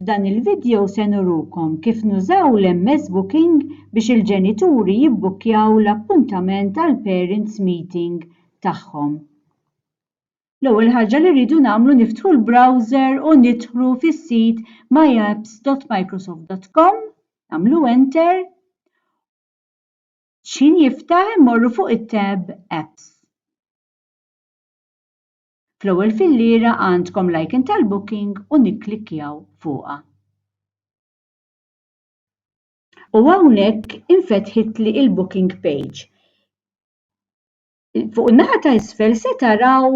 F'dan il-vidjow se nurukom kif nużaw l-MS Booking biex il-ġenituri jibbukkjaw l-appuntament għall-parents meeting tagħhom. L-ewwel ħaġa li rridu nagħmlu niftħu l-browser u nidħlu fis-sit myapps.microsoft.com, nagħmlu enter X'ħin jiftaħ immorru fuq it-tab Apps. Fl-ewwel filliera għandkom l-icon tal-booking u nikklikkjaw fuqha. U hawnhekk infetħitli il-booking page. fuq in-naħa ta' isfel se taraw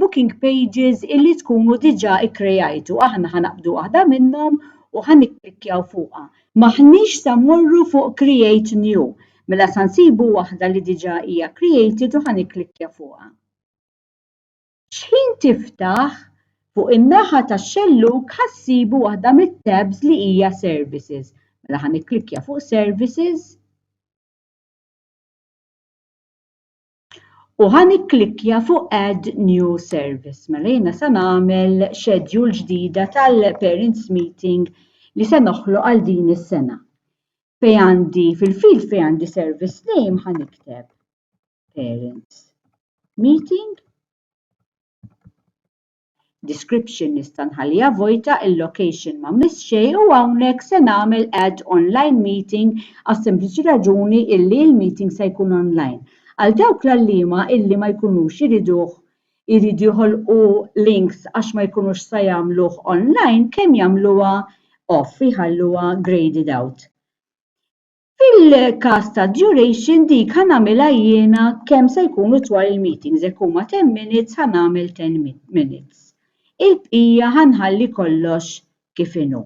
booking pages illi tkunu diġà ikkrejajtu. Aħna ħanaqbdu waħda minnhom u ħan nikklikkjaw fuqha. Maħniex sa morru fuq create new, mela sa nsibu waħda li diġà hija created u ħan nikklikkja fuqha. X'ħin tiftaħ, fuq in-naħa tax-xellug ħassibu waħda mit-tabs li hija services. Mela ħan nikklikkja fuq services. U ħa nikklikkja fuq Add New Service. Mela jiena se nagħmel schedule ġdida tal-Parents Meeting li se noħloq għal din is-sena. Fej għandi fil-field fej għandi service name ħa nikteb Parents Meeting. Description nista' nħalliha vojta, il-location ma mmiss xejn u hawnhekk se nagħmel add online meeting għas-sempliċi raġuni illi l-meeting se jkun online. Għal dawk l-għalliema illi ma jkunux iriduh iridu joħolqu links għax ma jkunux sa jagħmluh online kemm jagħmluha off, jħalluha graded out. Fil-każ tad-duration dik ħa nagħmilha jiena kemm se jkunu twal il-meetings, jekk huma ten minutes ħa nagħmel ten minutes. Il-bqija ħa nħalli kollox kif inhu.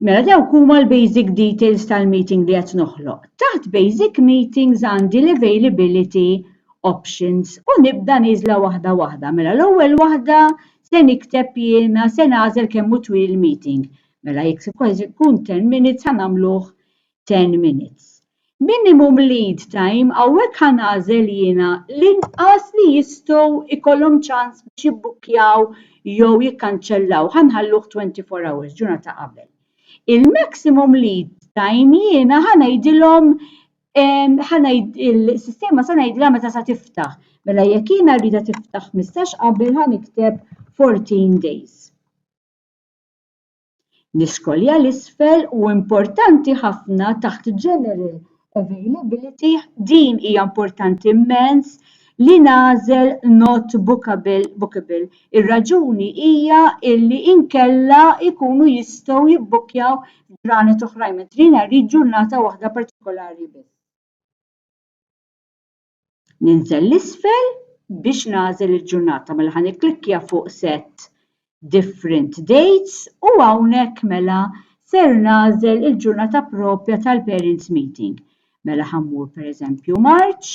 Mela dawk huma l-basic details tal-meeting li qed noħloq. Taħt basic meetings għandi l-availability options u nibda niżla waħda waħda. Mela l-ewwel waħda se nikteb jiena se nagħżel kemm hu twil il-meeting. Mela jekk se kważi jkun 10 minutes ħa nagħmluh 10 minutes. Minimum lead time hawnhekk ħa nagħżel jiena l-inqas li jistgħu jkollhom ċans biex jibbukkjaw jew jikkanċellaw ħa nħalluh 24 hours, ġurnata qabel. Il-maximum lead time jiena ħa ngħidilhom il-sistema se ngħidilha meta sa tiftaħ. Mela jekk jiena rridha tiftaħ 15 qabel ħa nikteb 14 days. L-iskolja l-isfel u importanti ħafna taħt general availability din hija importanti immens li nagħżel not bookable, bookable. Ir-raġuni hija illi inkella jkunu jistgħu jibbukkjaw ġranet oħrajn mentri jiena rrid ġurnata waħda partikolari biss. ninżel l-isfel biex nagħżel il-ġurnata mela ħa nikklikkja fuq set different dates u hawnhekk mela ser nagħżel il-ġurnata propja tal-parents meeting. Mela ħammur pereżempju March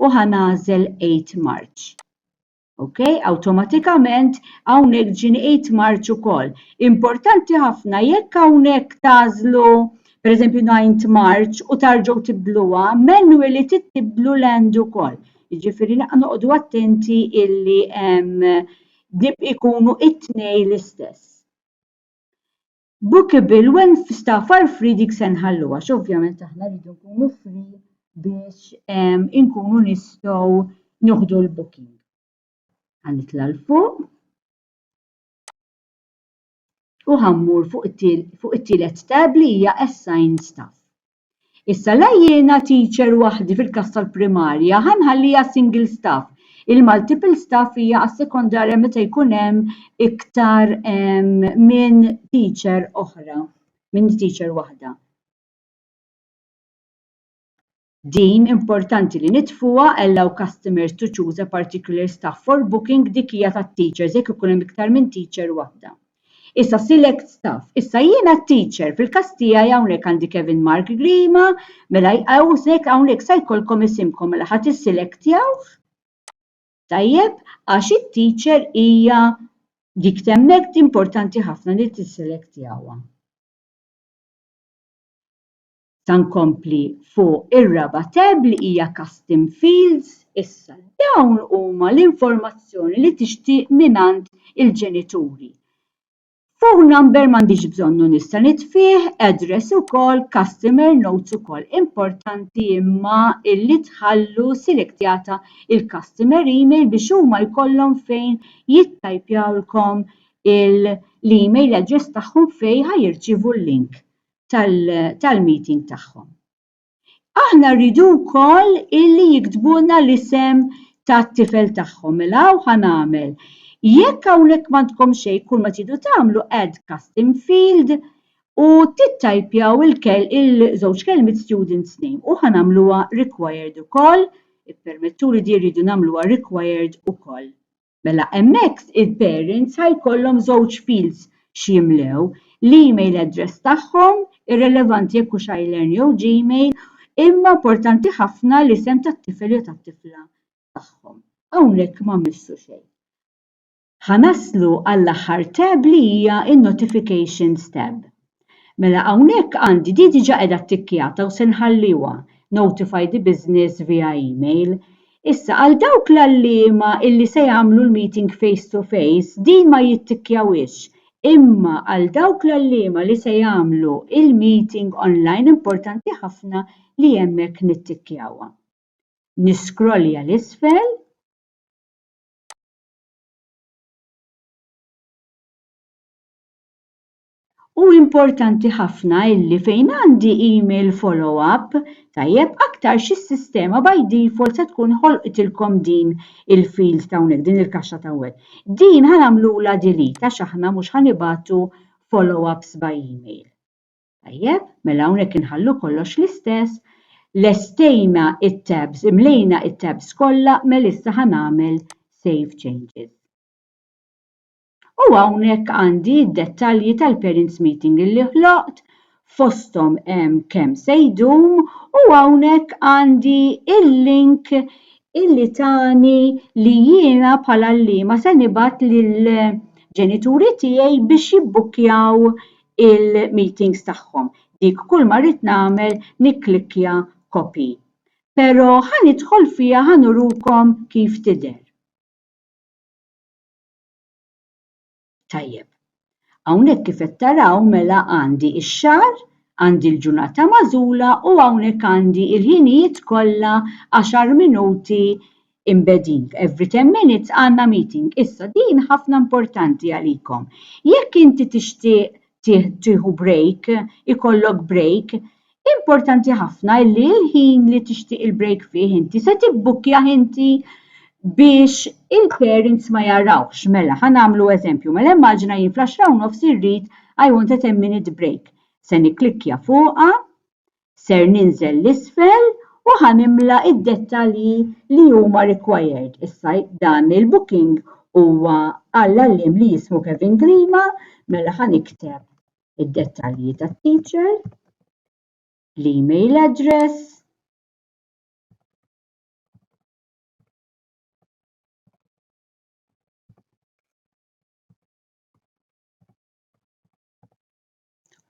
u ħa nagħżel 8 March. Ok, awtomatikament hawnhekk ġini 8 March ukoll. Importanti ħafna jekk hawnhekk tażlu per eżempju 9 March u tarġgħu tibdluha, manually tibdlu l-end ukoll. Jiġifieri noqogħdu attenti illi ikunu it-tnej l-istess. Bookable when far far free dik se nħallu għax ovvjament aħna rridu nkunu free biex ehm, inkunu nistgħu nieħdu l-booking. Għanitla l-fuq. U ħammur fuq it-tielet tab li hija assign staff. Issa la jiena teacher waħdi fil-każ tal-primarja ħa nħalliha single staff. Il-multiple staff hija għas-sekondarja meta jkun hemm iktar minn teacher oħra, minn teacher waħda. Din importanti li nitfuha allow customers to choose a particular staff for booking dik hija tat-teachers jekk ikun hemm iktar minn teacher waħda. Issa select staff. Issa jiena t-teacher, fil-każ tiegħi hawnhekk għandi Kevin Mark Grima, mela hawnhekk hawnhekk sa jkollkom isimkom, mela ħa tisselektjawh, tajjeb, għax it-teacher hija dik t'hemmhekk importanti ħafna li tisselektjawha. Sa nkompli fuq ir-raba' tab li hija Custom Fields. Issa, dawn huma l-informazzjoni li tixtieq mingħand il-ġenituri. Phone number m'għandix bżonnu nista' nitfieh, address ukoll, customer notes ukoll. Importanti imma illi tħallu selektjata il-customer email biex huma jkollhom fejn jittajpjawlkom l-email address tagħhom fejn ħa jirċievu l-link. tal-meeting tagħhom. Aħna rridu wkoll illi jiktbuna l-isem tat-tifel tagħhom. Mela hawn ħanamel. Jekk hawnhekk m'għandkom xejn kull ma tridu tagħmlu add custom field u tittajpjaw il-żewġ kelmiet students name u ħanamluha required ukoll, ippermettuli di rridu nagħmluha required ukoll. Mela hemmhekk il-parents ħa jkollhom żewġ fields x'jimlew, l-email address tagħhom, irrelevanti jekk hux iLearn jew Gmail, imma importanti ħafna l-isem tat-tifel jew tat-tifla tagħhom. Hawnhekk ma mmissu xejn. Ħa naslu għall-aħħar tab li hija n-Notifications tab. Mela hawnhekk għandi di diġa qiegħda ttikkjata u se nħalliwa notify the business via email. Issa għal dawk l-għalliema illi se jagħmlu l-meeting face to face din ma jittikkjawhiex imma għal dawk l-għalliema li se jagħmlu il-meeting online importanti ħafna li hemmhekk nittikkjawha. Niscrollja 'l isfel. Hu importanti ħafna illi fejn għandi email follow up, tajjeb aktar xi sistema by default se tkun ħolqitilkom din il-field ta' hawnhekk, din il-kaxxa ta' hawnhekk. Din ħa nagħmlula delete għax aħna mhux ħa nibatu follow ups by email. Tajjeb, mela hawnhekk inħallu kollox l-istess, lestejna it-tabs, imlejna it-tabs kollha, mela issa ħa nagħmel save changes. U hawnhekk għandi d-dettalji tal-parents meeting illi ħloqt, fosthom hemm kemm se jdum u hawnhekk għandi il-link illi tani li jiena bħala għalliema se nibgħat lill-ġenituri tiegħi biex jibbukkjaw il-meetings tagħhom. Dik kull ma rrid nagħmel nikklikkja copy. Però ħa nidħol fiha ħa nurukom kif tidher. Tajjeb. Hawnhekk kif qed taraw mela għandi x-xahar, għandi l-ġurnata magħżula u hawnhekk għandi l-ħinijiet kollha għaxar minuti embedding. Every ten minutes għandna meeting. Issa din ħafna importanti għalikom. Jekk inti tixtieq tieħu break, ikollok break, Importanti ħafna li l-ħin li tixtieq il-break fih inti se tibbukkjah inti biex il-parents ma jarawx. Mela, ħa nagħmlu eżempju, mela immaġina jien fl-10 u nofs irrid I want a 10 minute break. Se nikklikkja fuqha, ser ninżel l-isfel u ħa nimla id-dettalji li huma required. Issa dan il-booking huwa għall-għalliem li jismu Kevin Grima, mela ħa nikteb id-dettalji tat-teacher, l-email address,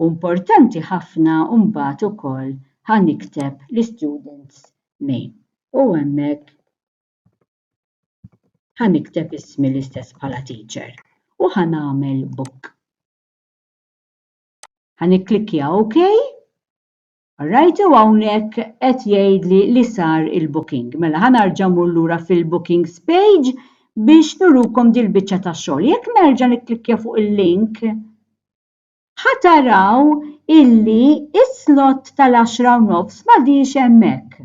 U importanti ħafna mbagħad ukoll ħa nikteb l-students name. U hemmhekk ħa nikteb ismi l-istess bħala teacher u ħa nagħmel book. Ħa nikklikkja OK. Alright, u hawnhekk qed jgħidli li sar il-booking. Mela ħa narġa' mmur lura fil-bookings page biex nurukom dil-biċċa ta' xogħol. Jekk nerġa' nikklikkja fuq il-link, ħa taraw illi is-slot tal-10 u nofs m'għadix hemmhekk.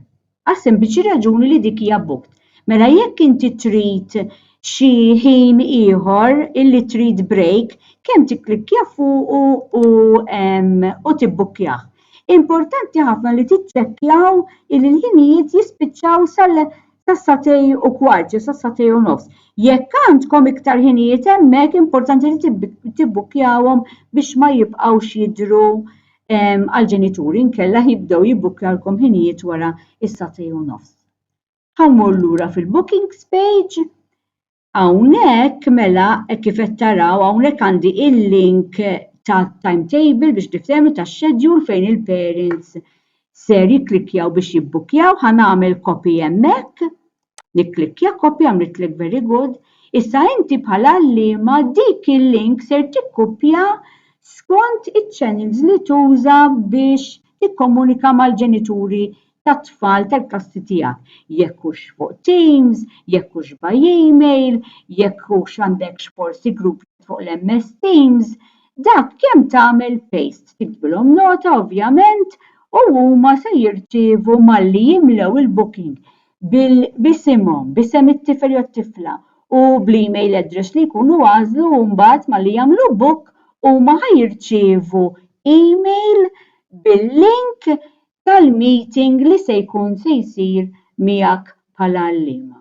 għas-sempliċi raġuni li dik hija booked. Mela jekk inti trid xi ħin ieħor illi trid break, kemm tikklikkja fuqu u u tibbukkjah. Importanti ħafna li tiċċekkjaw illi l-ħinijiet jispiċċaw sal sas-satej u kwart jew sas-satej u nofs. Jekk għandkom iktar ħinijiet hemmhekk importanti li tibbukkjawhom biex ma jibqgħux jidhru għall-ġenituri nkella jibdew jibbukkjalkom ħinijiet wara is-satej u nofs. Ħammur lura fil-bookings page. Hawnhekk mela hekk kif qed taraw hawnhekk għandi il-link ta' timetable biex niftehmu ta' schedule fejn il-parents ser jikklikjaw biex jibbukkjaw, ħa nagħmel copy hemmhekk Nikklikkja kopja għamlitlek very good, issa inti bħal għalliema dik il-link ser tikkupja skont iċ-channels li tuża biex tikkomunika mal-ġenituri tat-tfal tal-klassi tiegħek. Jekk hux fuq Teams, jekk hux by email, jekk hux għandekx forsi group chat fuq l-MS Teams, dak kemm tagħmel paste, tiktbilhom nota ovvjament u huma se jirċievu malli jimlew il-booking b'isimhom, b'isem it-tifel jew t-tifla u bl-email address li jkunu għażlu u mbagħad malli jagħmlu book huma ħa jirċievu email bil-link tal-meeting li se jkun se jsir miegħek bħala għalliema.